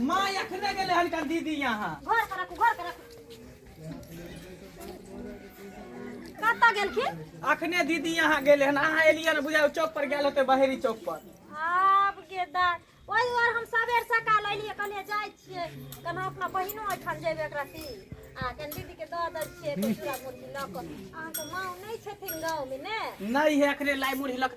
माँ एखने गेलै हन कल दीदी यहाँ घर पर रखू घर पर रखू कतऽ गेलखिन अखने दीदी यहाँ गेलै हन अहाँ एलियै ने बुझाओ चौक पर गेल होते बहेरी चौक पर आब के दाय ओहि दुआरे हम सबेर सकाल अयलियै कहलियै जाइ छियै केना अपना बहिनो ओहिठाम जेबै एकरा ती आ कनि दीदीके दऽ दै छियै तऽ चूड़ा मुरही लऽ कऽ अहाँके माँ नहि छथिन गाँवमे ने नहीं है अखने लाई मुरही लक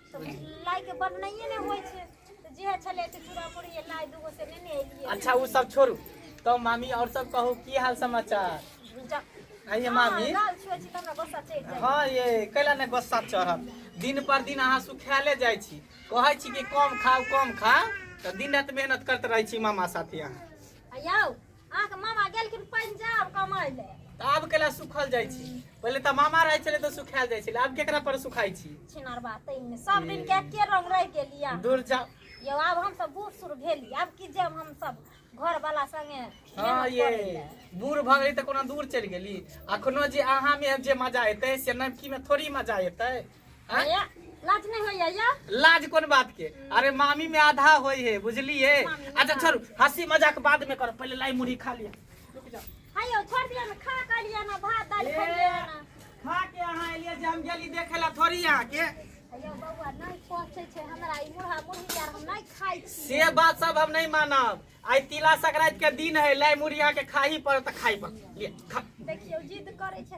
अच्छा ओ सब छोड़ू तो मामी और सब कहू की हाल समाचार आइए मामी हाँ ये कैला ने गुस्सा चढ़ल दिन पर दिन अहाँ सुखायले जाइ छी कहै छी कि कम खाउ कम खाउ तऽ दिन रात मेहनत करते रहै छी मामा साथे अहाँ अहाँके मामा गेलखिन पंजाब कमाय ले तऽ आब केला सुखल जाइ छी पहिले तऽ मामा रहै छलै तऽ सुखायल जाइ छलै आब केकरा पर सुखाइ छी छिनार बात तैमे सब दिन के एके रंग रह गेली अहाँ। दूर जा यौ आब हम सब बूढ़ सूढ़ भेली आब की जाब हम सब घर वाला संगे हाँ मेहनत ये करै ले। बूढ़ भऽ गेली तऽ कोनो दूर चलि गेली अखनो जे अहाँ मे जे मजा एतै से नवकी मे थोड़ी मजा एतै भैया, लाज नहीं होइया या लाज कोन बात के अरे मामी में आधा होय है बुझलिए अच्छा छोड़ू हंसी मजाक बाद में करो पहले लाई मुड़ी खा लिया रुक जाओ हायो छोड़ दिया ना खा कर लिया ना भात दाल खा लिया ना खा के अहाँ एलियै जे हम गेली देखे ला थोड़ी अहाँ के हायो बउआ नहीं पहुंचे छे हमरा ई मुरहा मुरही यार हम नहीं खाई छी से बात सब हम नहीं मानब आइ तिला संक्रांति के दिन है लाई मुड़ी अहाँ के खाही पड़त तऽ खाही पड़त लिअ, खा देखियो जिद करे छे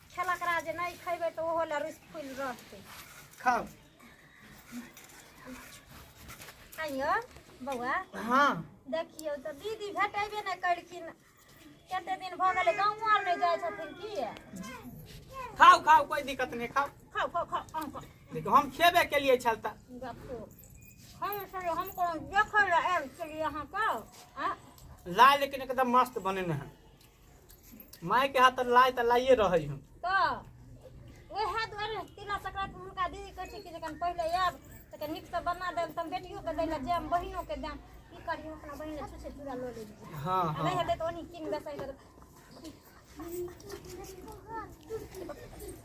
खेलकरा जे नहि खैबै तऽ ओहो लए रुसि फुलि रहतै खाओ आइयो बौआ हाँ देखियौ तऽ दीदी भेटेबे नहि करखिन कते दिन भऽ गेलै गाँव आर नहि जाइ छथिन की ये? खाओ खाओ कोई दिक्कत नहीं खाओ खाओ खाओ खाओ अहाँ खाओ। देखो हम खेबे के लिए छल ता देखो हम सर हम कोनो देखै लए आयल छलियै अहाँके आँ? लाल लेकिन एकदम मस्त बने हैं माय के हाथ त लाय त लाइए रहै हम तऽ ओहे दुआरे तिला संक्रांति मे हुनका दीदी कहै छै कि जखन पहिले आयब तऽ नीक से बना देब तऽ हम बेटियो के दै लए जायब बहिनो के जायब की करी हम अपना बहिन लए छुछे चूड़ा लऽ लेब हाँ आ नहीं हाँ हेतै तऽ ओनी किन बेसाइ देब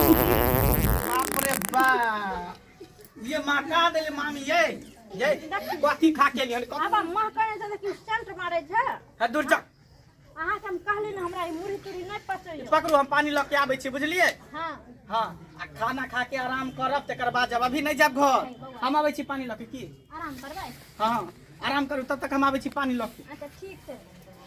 बाप रे बाप ये माका देले मामी ये ये कथी खा के लियन अब मां कहै छै कि सेंट मारै छै ह दूर जा अहाँ के हम कहले न हमरा ई मुरही तुरी नै पचै पकड़ू हम पानी ल के आबै छी बुझलिए हां हां आ खाना खा के आराम करब तकर बाद जब अभी नै जाब घर हम आबै छी पानी ल के की आराम करबै हां आराम करू तब तक हम आबै छी पानी ल के अच्छा ठीक छै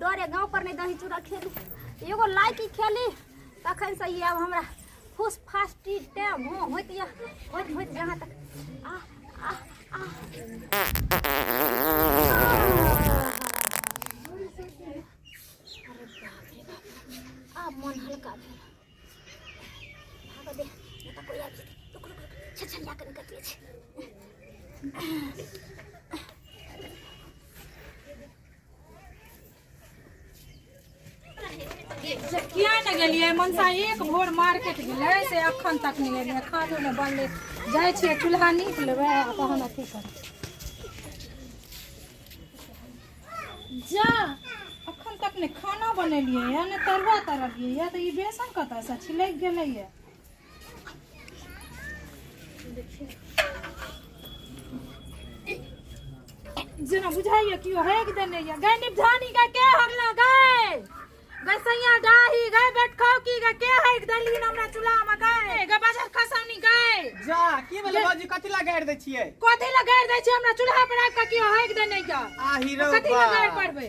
डरे गाँव पर नहीं दही चूड़ा खेली एगो लाइकी खेली तखन से ये अब हमरा फुस फास टीटे भो होइत या होइत होइत जहाँ तक आ आ आ आ मन हल्का भेल भागऽ दे नहि तऽ कोइ आबि जेतै रुक रुक रुक छछलिया कऽ निकलि जाइ छै किया ने गेलियै मनसा एक भोर मार्केट गेलै से अखन तक नहि एलियै खानो नहि बनलै जाइ छियै चूल्हा नीप लेबै आ तहन अथी करबै जा अखन तक नहि खाना बनेलियै या नहि तरुआ तरलियै या तऽ ई बेसन कतऽसँ छिलैक गेलैए जेना बुझाइए कि हक देने ये गए निपधानी का के हगला गए गए सैया डाही गए बैठखाओ की का के हक देली हमरा चूल्हा में गए गए बाजार खसौनी गए जा की भेलै बाबूजी कथी ला गाड़ि दै छियै कथी लगा दै छै हमरा चूल्हा पर आबि के कि हक देने ये आही रौ कथी लगा बा। पड़बे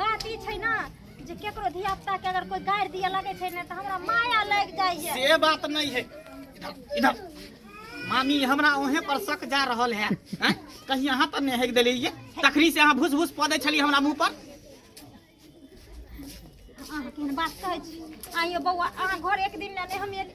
बात ई छै ने जे केकरो धिया पुता के अगर कोई गारि दिए लगे छै ने तऽ हमरा माया लागि जाइए से बात नहीं है इधर इधर मामी हमरा ओहे पर शक जा रहल है हैं? कहीं यहाँ पर नहीं हेक देली ये तखरी से अहाँ भूस भूस पदे छली हमरा मुंह पर अहाँ केहन बात कहै छी आइयो बौआ अहाँ घर एक दिन ले नहि हम एक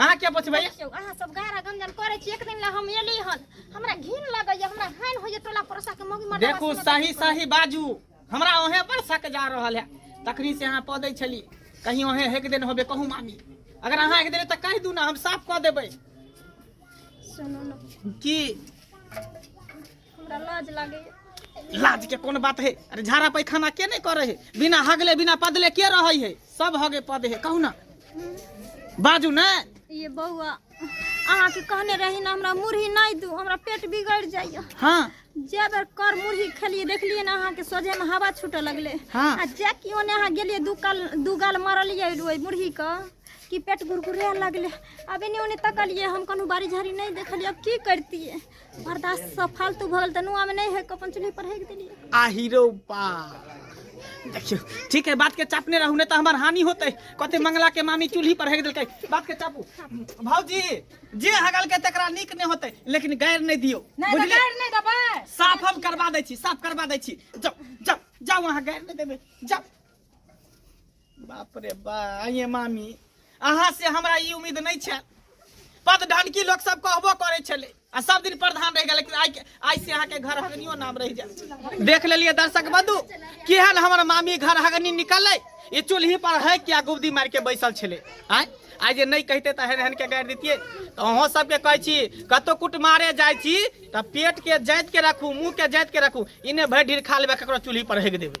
अहाँ क्या बचबै देखियौ अहाँ सब गारा गंजन करै छी एक दिन ला हम एली हन हमरा घिन लगैया हमरा हानि होइया टोला पड़ोसा के मौगी मरदा देखू बस्ती मे सही देखै सही बाजू हमरा ओहे पर शक जा रहल है तखनी से अहाँ पदै छली कहीं ओहे एक दिन होबे कहू मामी अगर अहाँ एक दिन तऽ कहि दू ना हम साफ कऽ देबै छी। सुनू ने की हमरा लाज लागे लाज के कोन बात है अरे झाड़ा पैखाना के नहीं करे है बिना हगले बिना पदले के रहे है सब हगे पद है कहू ना बाजू ना ये बौआ अहाँ के कहने रही ना हमरा मुरही नहीं दू हमरा पेट बिगड़ जाइए हाँ जे बेर कर मुरही खेलिए देखलिए ना अहाँ के सोझे में हवा छूटे लगले हाँ। आ जे कि ओने अहाँ गेलिए दू काल दू गाल मारलिए ओहि मुरही के कि पेट गुरगुरे लगलै अब एने ओने तकलिए हम कोनो बारी झाड़ी नहीं देखलिए अब की करतिए बर्दाश्त सब फालतू भऽ गेल तनु आमे नहीं है अपन चूल्ही पर हेक देलिए आ हीरो बा देखियो ठीक है बात के चापने रहू ने तो हमार हानि होते कते मंगला के मामी चूल्ही पर हेक देलकै बात के चापू भौजी जे हगल के तकरा नीक नहीं होते लेकिन गैर नहीं दियो नहीं बुझलिए? गैर नहीं दबाए साफ हम करवा दै छी साफ करवा दै छी जाओ जाओ जाओ अहाँ गैर नहि देबै जाओ बाप रे बा आइए मामी अहाँ से हमरा ई उम्मीद नहीं छे पद ढनकी लोग सब कहबो करे छले आ सब दिन प्रधान रह गेल लेकिन आइ के- आइ से अहाँ के घर हगनियो नाम रह जाए देख लेलिए दर्शक बंधु केहन हमर मामी घर हगनी निकलै ई चूल्ही पर है क्या गुबदी मार के बैसल छले आय आइ जे नहीं कहते तऽ हेन हेन के गाड़ि दितिए तऽ अहाँ सबके कहै छी कतौ कुट मारे जाइ छी तऽ पेट के जाइत के रखू मुंह के जाइत के रखू इने भरि ढीर खा लेबै ककरो चूल्ही पर हेग देबै